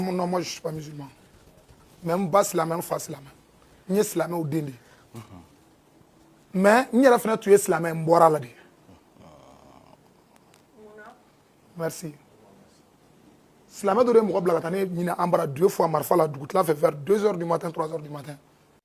non moi je suis pas musulman mais n ba silamɛ n fa silamɛ n ye silamɛw den de ye mais n yɛrɛ fana tun ye silamɛ ye n bɔra a la Dieu merci silamɛ dɔ de ye mɔgɔ bila ka taa ne ɲini an bara deux fois marifa la dugutila fɛ vers deux heures du matin trois heures du matin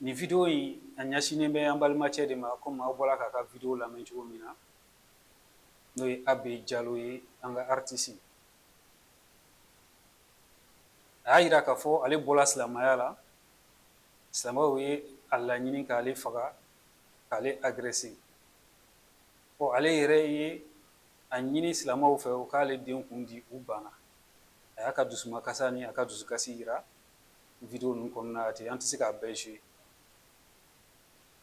Nin video in a ɲɛsinnen bɛ an balimacɛ de ma komi aw bɔra k'a ka video lamɛn cogo min na n'o ye AB jalo ye an ka aritisi a y'a yira k'a fɔ ale bɔra silamɛya la silamɛw ye a laɲini k'ale faga k'ale agresser ɔ ale yɛrɛ ye a ɲini silamɛw fɛ u k'ale den kun di u banna a y'a ka dusumakasa ni a ka dusukasi yira video ninnu kɔnɔna ten an tɛ se k'a bɛɛ jouer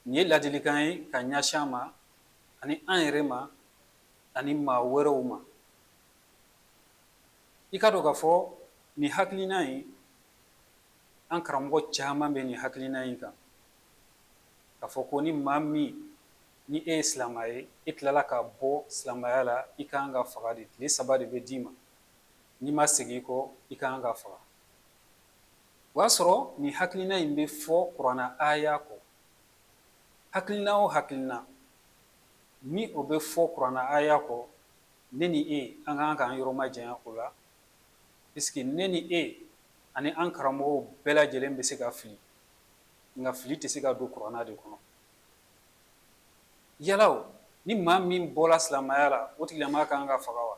nin ye ladilikan ye ka ɲɛsin a ma ani an yɛrɛ ma ani maa wɛrɛw ma i k'a dɔn k'a fɔ nin hakilina in an karamɔgɔ caman bɛ nin hakilina in kan k'a fɔ ko ni maa min ni e ye silamɛ ye e tilala ka bɔ silamɛya la i ka kan ka faga de tile saba de bɛ d'i ma n'i ma segin i kɔ i ka kan ka faga o y'a sɔrɔ nin hakilina in bɛ fɔ kurana aya kɔ hakilina o hakilina ni o bɛ fɔ kurana aya kɔ ne ni e an ka kan k'an yɔrɔ majanya o la parce que ne ni e ani an karamɔgɔw bɛɛ lajɛlen bɛ se ka fili nka fili tɛ se ka don kurana de kɔnɔ yala o ni maa min bɔra silamɛya la o tigilamaa ka kan ka faga wa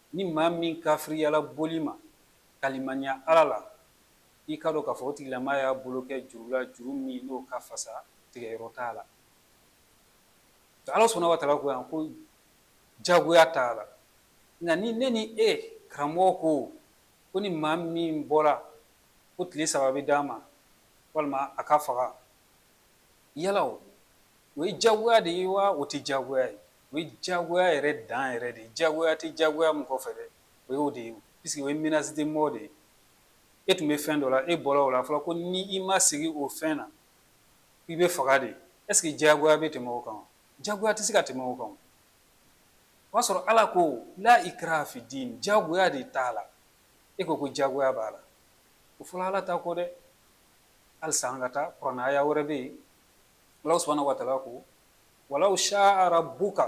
Ni maa min kafiriyala boli ma, ka limaniya Ala la, i k'a dɔn k'a fɔ o tigilamaa y'a bolo kɛ juru la, juru min n'o ka fasa, tigɛyɔrɔ t'a la. Ala subahana wataala ko yan ko jagoya t'a la. Nka ni ne ni e karamɔgɔ ko ko ni maa min bɔra ko tile saba bɛ d'a ma walima a ka faga, yala o ye jagoya de ye wa o tɛ jagoya ye? o ye diyagoya yɛrɛ dan yɛrɛ de ye diyagoya tɛ diyagoya min kɔfɛ dɛ o y'o de ye puisque o ye menace de mort de ye e tun bɛ fɛn dɔ la e bɔra o la a fɔra ko ni i ma segin o fɛn na i bɛ faga de est-ce que diyagoya bɛ tɛmɛ o kan wa diyagoya tɛ se ka tɛmɛ o kan o y'a sɔrɔ Ala ko la ikraha fi din diyagoya de t'a la e ko ko diyagoya b'a la o fɔla Ala ta kɔ dɛ halisa an ka taa kurana aya wɛrɛ bɛ yen Alahu subahana wataala ko walaw sha'a rabbuka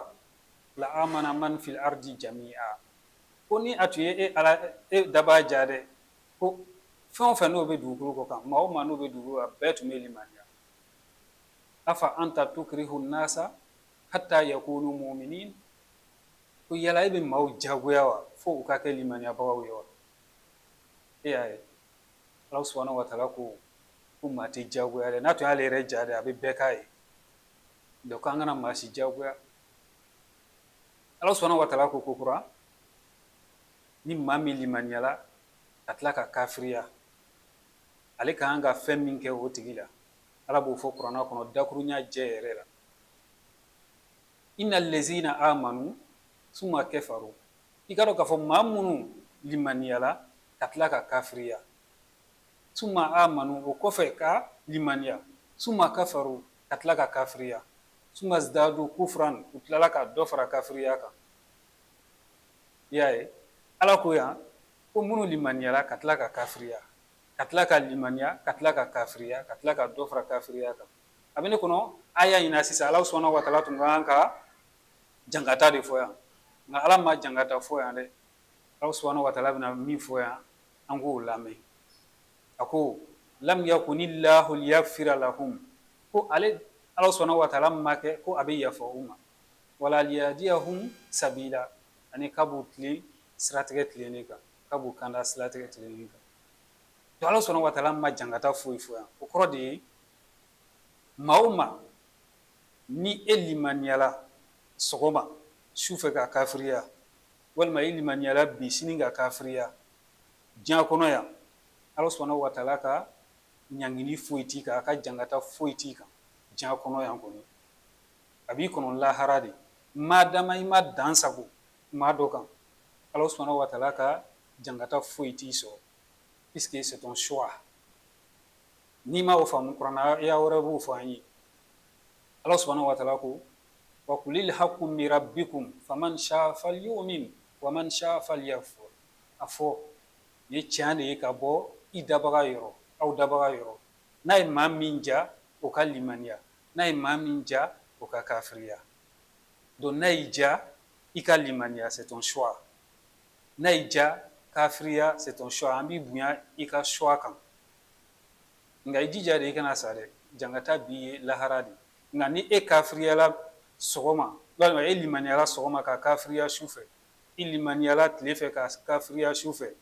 la amana man fil ardi jami'a ko ni a tun ye e ala e daba ja dɛ ko fɛn o fɛn n'o bɛ dugukolo kɔ kan maa o maa n'o bɛ dugukolo kan bɛɛ tun bɛ limaniya afa anta tukrihu nasa hatta yakunu muminin ko yala e bɛ maaw jagoya wa fo u ka kɛ limaniyabagaw ye wa e y'a ye Ala subahana watala ko ko maa tɛ jagoya n'a tun y'ale yɛrɛ ja dɛ a bɛ bɛɛ k'a ye Donc an kana maa si jagoya Ala subahana watala ko kokura ni maa min limaniyala ka tila ka kafiriya ale ka kan ka fɛn min kɛ o tigi la Ala b'o fɔ kurana kɔnɔ dakurunɲɛ jɛ yɛrɛ la inna lazina amanu suma kafaru i k'a dɔn k'a fɔ maa minnu limaniyala ka tila ka kafiriya suma amanu o kɔfɛ ka limaniya suma kafaru ka tila ka kafiriya suma zdadu kufran u tilala ka dɔ fara kafiriya kan i y'a ye ala ko yan ko minnu limaniyala ka tila ka kafiriya ka tila ka limaniya ka tila ka kafiriya ka tila ka dɔ fara kafiriya kan a bɛ ne kɔnɔ aya ɲin na sisan ala subahana watala tun ka kan ka jankata de fɔ yan nka ala ma jankata fɔ yan dɛ ala subahana watala bɛna min fɔ yan An k'o lamɛn a ko lam yakuni lahu liyaghfira lahum ko ale ala subahana watala ma kɛ ko a bɛ yafa u ma wala liyahdiyahum sabila ani k'a b'u tilen siratigɛ tilennen kan k'a b'u kanda siratigɛ tilennen kan to ala subahana watala ma jankata foyi fɔ yan o kɔrɔ de ye maa o maa ni e limaniyala sɔgɔma su fɛ ka kafiriya walima i limaniyala bi sini ka kafiriya diɲa kɔnɔ yan Ala subahana watala ka ɲangili foyi t'i kan a ka jankata foyi t'i kan diɲa kɔnɔ yan kɔni a b'i kɔnɔ lahara de madama i ma dan sago maa dɔ kan Ala subahana watala ka jankata foyi t'i sɔrɔ puisque c'est ton choix n'i ma o faamu kurana aya wɛrɛ b'o fɔ an ye Ala subahana watala ko wa kulil haku min rabikum faman sha'a falyumin wa man sha'a falyakfur a fɔ nin ye tiɲɛ de ye ka bɔ i dabaga yɔrɔ aw dabaga yɔrɔ n'a ye maa min ja o ka limaniya n'a ye maa min ja o ka kafiriya donc n'a y'i ja i ka limaniya c'est ton choix n'a y'i ja kafiriya c'est ton choix an b'i bonya i ka choix kan nka i jija de i kana sa dɛ jangata b'i ye lahara de nka ni e kafiriyala sɔgɔma walima e limaniyala sɔgɔma ka kafiriya su fɛ i limaniyala tile fɛ ka kafiriya su fɛ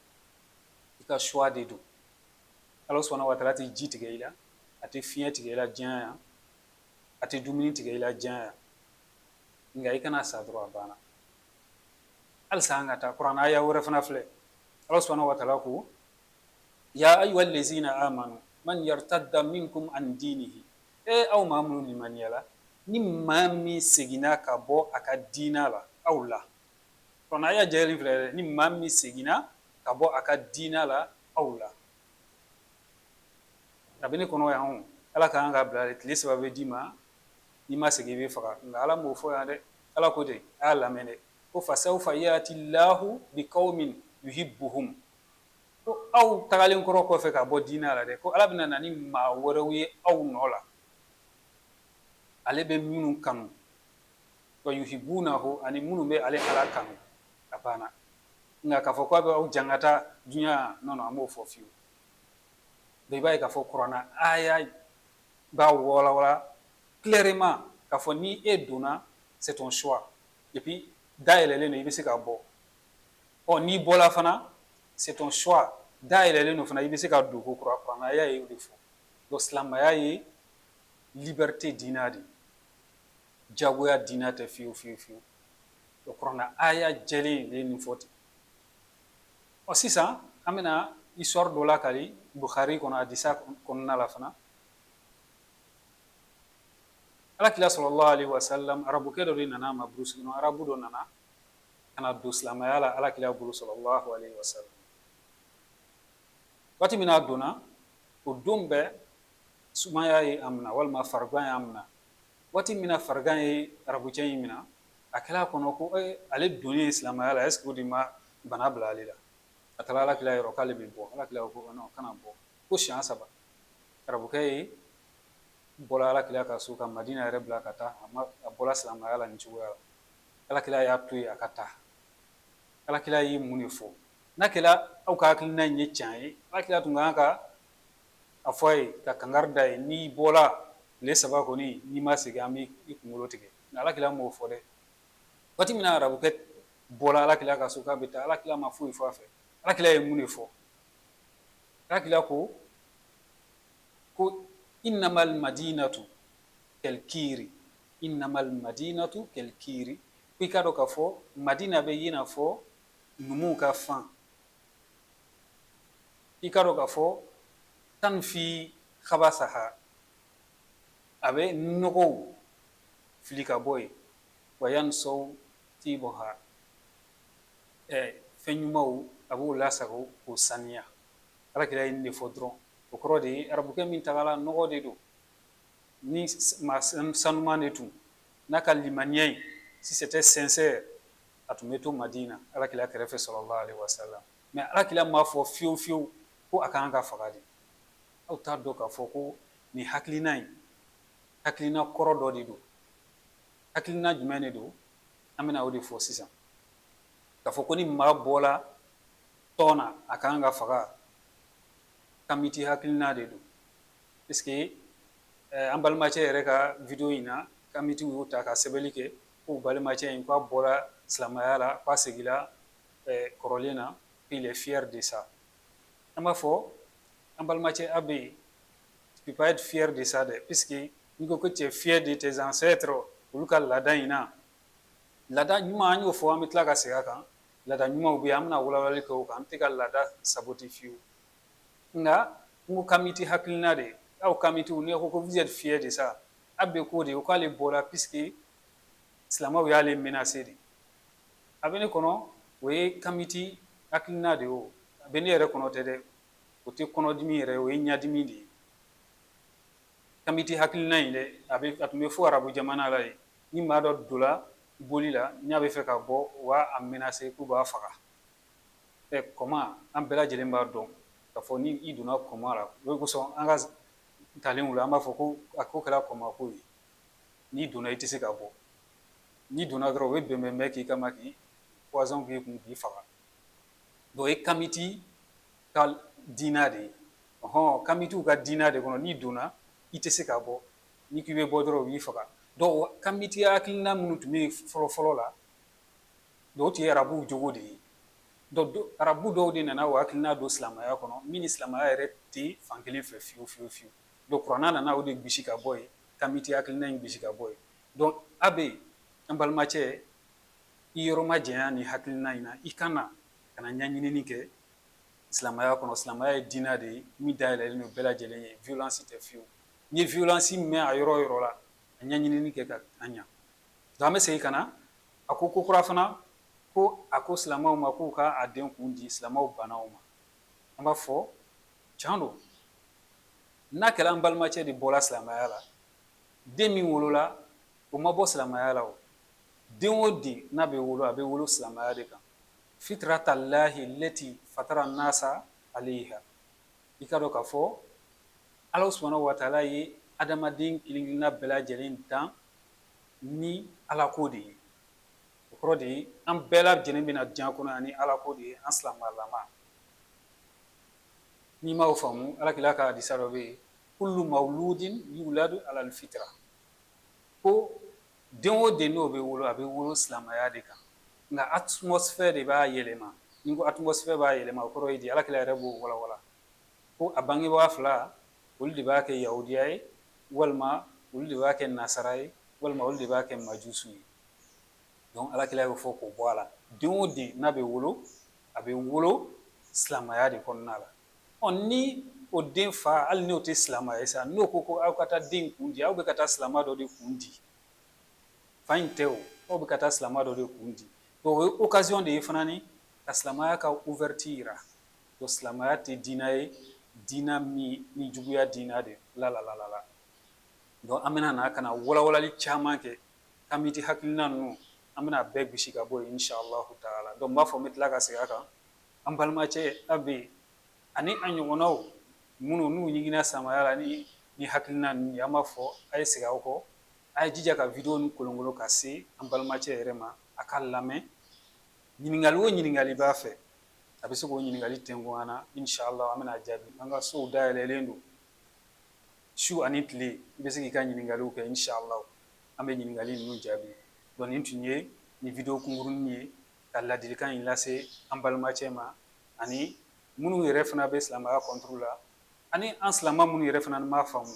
i ka choix de don Alahu subahana wataala tɛ ji tigɛ i la a tɛ fiɲɛ tigɛ i la diɲɛ yan a tɛ dumuni tigɛ i la diɲɛ yan nka i kana sa dɔrɔn a banna halisa an ka taa kurana aya wɛrɛ fana filɛ Alahu subahana wataala ko ya ayyuha lazina amanu man yartadda minkum an dinihi ee aw maa minnu limaniyara ni maa min seginna ka bɔ a ka diinɛ la aw la kurana aya jɛlen filɛ dɛ ni maa min seginna ka bɔ a ka diinɛ la aw la a bɛ ne kɔnɔ yan o ala kan k'a bila de tile saba bɛ d'i ma n'i ma segin i bɛ faga nka ala m'o fɔ yan dɛ ala ko ten a y'a lamɛn dɛ ko fasawfa yati llahu bi qawmin yuhibbuhum ko aw tagalen kɔrɔ kɔfɛ ka bɔ diinɛ la dɛ ko ala bɛna na ni maa wɛrɛw ye aw nɔ la ale bɛ minnu kanu wa yuhibbunahu ani minnu bɛ ale ala kanu a banna nka k'a fɔ k'a bɛ aw jangata diɲɛ na non a m'o fɔ fiyewu i b'a ye k'a fɔ kurana aya b'a walawala clairement k'a fɔ ni e donna c'est ton choix et puis da yɛlɛlen don i bɛ se ka bɔ ɔ n'i bɔla fana c'est ton choix da yɛlɛlen don fana i bɛ se ka don ko kura kurana aya ye o de fɔ donc silamaya ye liberté diinɛ de ye jagoya diinɛ tɛ fiyewu fiyewu fiyewu o kurana aya jɛlen de ye nin fɔ ten ɔ sisan an bɛna histoire dɔ lakali Bukhari kɔnɔ hadisa kɔnɔna la fana alakira sallallahu alaihi wasallam arabukɛ dɔ de nana a ma burusi kɔnɔ arabu dɔ nana ka na don silamɛya la alakira bolo sallallahu alaihi wasallam waati min na a donna o don bɛɛ sumaya ye a minɛ walima farigan y' a minɛ waati min na farigan ye arabucɛ in minɛ a kɛra a kɔnɔ ko ale donni in silamɛya la est-ce que o de ma bana bila ale la a taara alakira yɔrɔ k'ale bɛ bɔ alakira ko kana bɔ ko siɲɛ saba arabukɛ in bɔra alakira ka so ka madina yɛrɛ bila ka taa a bɔra silamɛya la nin cogoya la alakira y'a to yen a ka taa alakira ye mun de fɔ n'a kɛra aw ka hakilina in ye tiɲɛ ye alakira tun kan ka a fɔ a ye ka kangari da a ye n'i bɔra tile saba kɔni n'i ma segin an bɛ i kunkolo tigɛ alakira m'o fɔ dɛ waati min na arabukɛ bɔra alakira ka so k'a bɛ taa alakira ma foyi fɔ a fɛ alakira ye mun de fɔ alakira ko ko innamal madinatu kalkiri innamal madinatu kalkiri k'i k'a dɔn k'a fɔ Madina bɛ i n'a fɔ numuw ka fan i k'a dɔn k'a fɔ tanfi khabasaha a bɛ nɔgɔw fili ka bɔ yen wa yansawu tibuha fɛn ɲumanw a b'o lasago k'o saniya alakira ye nin de fɔ dɔrɔn o kɔrɔ de ye arabukɛ min tagala nɔgɔ de don ni maa sanuman de tun n'a ka limaniya in si c'était sincère a tun bɛ to Madina alakira kɛrɛfɛ salalahu alayihi wa salam mais alakira m'a fɔ fiyewu fiyewu ko a ka kan ka faga de aw t'a dɔn k'a fɔ ko nin hakilina in hakilina kɔrɔ dɔ de don hakilina jumɛn de don an bɛna o de fɔ sisan k'a fɔ ko ni maa bɔla tɔn na a ka kan ka faga kamiti hakilina de don an balimacɛ yɛrɛ ka vidéo in na kamitiw y'o ta ka sɛbɛnni kɛ ko balimacɛ in k'a bɔra silamɛya la k'a seginna kɔrɔlen na qu'il est fier de ça an b'a fɔ an balimacɛ Abe tu peux pas être fier de ça dɛ puisque n'i ko ko t'es fier de tes ancêtres olu ka laada in na laada ɲuman an y'o fɔ an bɛ tila ka segin a kan laada ɲumanw bɛ yen an bɛna walawalali kɛ o kan an tɛ ka laada saboter fiyewu Nka n ko kamiti hakilina de ye aw kamitiw n'i ko ko vous êtes fier de ça Abe k'o de o k'ale bɔra puisque silamɛw y'ale menacer de a bɛ ne kɔnɔ o ye kamiti hakilina de ye o a bɛ ne yɛrɛ kɔnɔ tɛ dɛ o tɛ kɔnɔdimi yɛrɛ ye o ye ɲɛdimi de ye kamiti hakilina in dɛ a bɛ a tun bɛ fɔ arabu jamana la yen ni maa dɔ donna boli la n'a bɛ fɛ ka bɔ u b'a menacer k'u b'a faga ɛ kɔma an bɛɛ lajɛlen b'a dɔn k'a fɔ ni i donna kɔma la o de kosɔn an ka talenw la an b'a fɔ ko a ko kɛra kɔmako ye n'i donna i tɛ se ka bɔ n'i donna dɔrɔn u bɛ bɛnbɛn bɛɛ k'i kama k'i poison k'i kun k'i faga o ye kamiti ka diinɛ de ye kamitiw ka diinɛ de kɔnɔ n'i donna i tɛ se ka bɔ n'i k'i bɛ bɔ dɔrɔn u b'i faga donc kamiti hakilina minnu tun bɛ yen fɔlɔ fɔlɔ la O tun ye arabuw jogo de ye arabu dɔw de nana o hakilina don silamɛya kɔnɔ min ni silamɛya yɛrɛ tɛ fankelen fɛ fiyewu fiyewu fiyewu donc kuranɛ nana o de gosi ka bɔ yen kamiti hakilina in gosi ka bɔ yen donc Abe an balimacɛ i yɔrɔ majanya nin hakilina in na i ka na ka na ɲɛɲini kɛ silamɛya kɔnɔ silamɛya ye diinɛ de ye min dayɛlɛlen don bɛɛ lajɛlen ye violence tɛ fiyewu n'i ye violence mɛn a yɔrɔ o yɔrɔ la a ɲɛɲini kɛ ka ɲɛ an bɛ segin ka na A ko ko kura fana ko a ko silamɛw ma k'u ka a den kun di silamɛw banna o ma an b'a fɔ can don n'a kɛra an balimacɛ de bɔra silamɛya la den min wolola o ma bɔ silamɛya la o den o den n'a bɛ wolo a bɛ wolo silamɛya de kan fitiratalahi lati fatara nasa alayiha i k'a dɔn k'a fɔ Ala subahanahu wa taala ye adamaden kelen-kelenna bɛɛ lajɛlen dan ni Ala ko de ye, o kɔrɔ de ye an bɛɛ lajɛlen bɛ na diɲɛ kɔnɔ yan ni Ala ko de ye an silamɛlama, n'i ma o faamu alakira ka hadisa dɔ bɛ yen kulu mawuludin yuwuladu alali fitira ko den o den n'o bɛ wolo a bɛ wolo silamɛya de kan nka atmosphère de b'a yɛlɛma, ni n ko atmosphère b'a yɛlɛma o kɔrɔ ye di alakira yɛrɛ b'o walawala. ko a bangebaa fila olu de b'a kɛ Yahudiya ye walima olu de b'a kɛ Nasara ye walima olu de b'a kɛ Majusu ye Alakira y'o fɔ k'o bɔ a la den o den n'a bɛ wolo a bɛ wolo silamaya de kɔnɔna la ni o den fa hali n'o tɛ silama ye sa n'o ko ko aw ka taa den kun di aw bɛ ka taa silama dɔ de kun di fa in tɛ o aw bɛ ka taa silama dɔ de kun di o ye occasion de ye fana ni ka silamaya ka ouverture jira. Donc silamɛya tɛ diinɛ ye diinɛ min ni juguya diinɛ de la donc an bɛna na ka na walawalali caman kɛ k'an bɛ di hakilina ninnu an bɛna a bɛɛ bisi ka bɔ yen inshallahu taala n b'a fɔ n bɛ tila ka segin a kan an balimacɛ Abe ani a ɲɔgɔnnaw minnu n'u ɲiginna silamɛya la ni nin hakilina ninnu ye an b'a fɔ a ye segin aw kɔ a ye jija ka video nin kolonkolon ka se an balimacɛ yɛrɛ ma a k'a lamɛn ɲininkali o ɲininkali b'a fɛ a bɛ se k'o ɲininkali tɛnku an na inshallah an bɛna a jaabi an ka sow dayɛlɛlen don su ani tile i bɛ se k'i ka ɲininkaliw kɛ inshallah an bɛ ɲininkali ninnu jaabi nin tun ye nin video kunkurunin ye ka ladilikan in lase an balimacɛ ma ani minnu yɛrɛ fana bɛ silamɛya contre la ani an silamɛ minnu yɛrɛ fana m'a faamu